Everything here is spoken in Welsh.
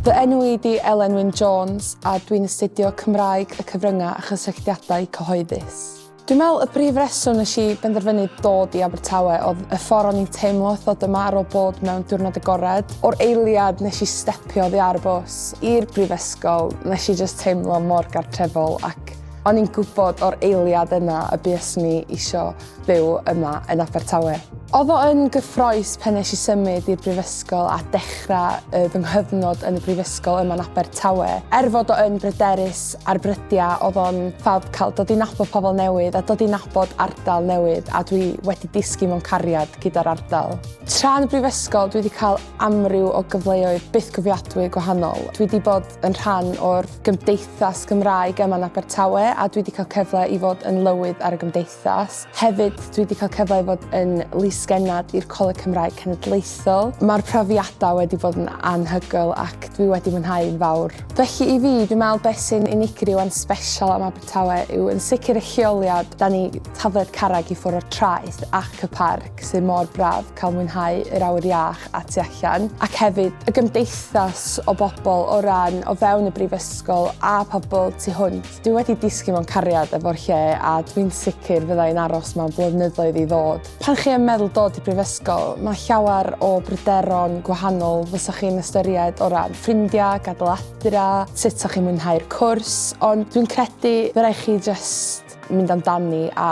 Fy enw i di Elen Wyn Jones a dwi'n astudio Cymraeg y Cyfryngau a Chysylltiadau Cyhoeddus. Dwi'n meddwl y brif reswm nes i benderfynu dod i Abertawe oedd y ffordd o'n i'n teimlo wrth ddod yma ar ôl bod mewn diwrnod agored. O'r eiliad nes i stepio oddi ar y bws i'r brifysgol, nes i just teimlo mor gartrefol ac o'n i'n gwybod o'r eiliad yna y bues ni isio byw yma yn Abertawe. Oedd o yn gyffroes pan nes i symud i'r brifysgol a dechrau y fy nghyfnod yn y brifysgol yma yn Abertawe. Er fod o yn bryderus ar brydiau, oedd o'n ffab cael dod i nabod pobl newydd a dod i nabod ardal newydd a dwi wedi disgyn mewn cariad gyda'r ardal. Tra yn y brifysgol dwi wedi cael amryw o gyfleoedd bythgofiadwy gwahanol. Dwi wedi bod yn rhan o'r gymdeithas Gymraeg yma yn Abertawe a dwi wedi cael cyfle i fod yn lywydd ar y gymdeithas. gymdeithas. Hefyd, dwi wedi cael cyfle i fod yn lys-genad i'r Coleg Cymraeg Cenedlaethol. Mae'r profiadau wedi bod yn anhygoel ac dwi wedi mwynhau'n fawr. Felly i fi, dwi'n meddwl beth sy'n unigryw a'n sbesial am Abertawe yw yn sicr y lleoliad, 'da ni tafliad carreg i ffwrdd o'r traeth ac y parc sydd mor braf cael mwynhau yr awyr iach a tu allan, ac hefyd y gymdeithas o bobl o ran o fewn y Brifysgol a pobl tu hwnt. Dwi wedi disgyn mewn cariad efo'r lle a dwi'n sicr fydda i'n aros mewn blynyddoedd i ddod. Pan chi yn meddwl dod i brifysgol, mae llawer o bryderon gwahanol fysa chi'n ystyried o ran ffrindiau, gadael adra, sut sa chi'n mwynhau'r cwrs, ond dwi'n credu fy rai' chi jyst mynd amdani a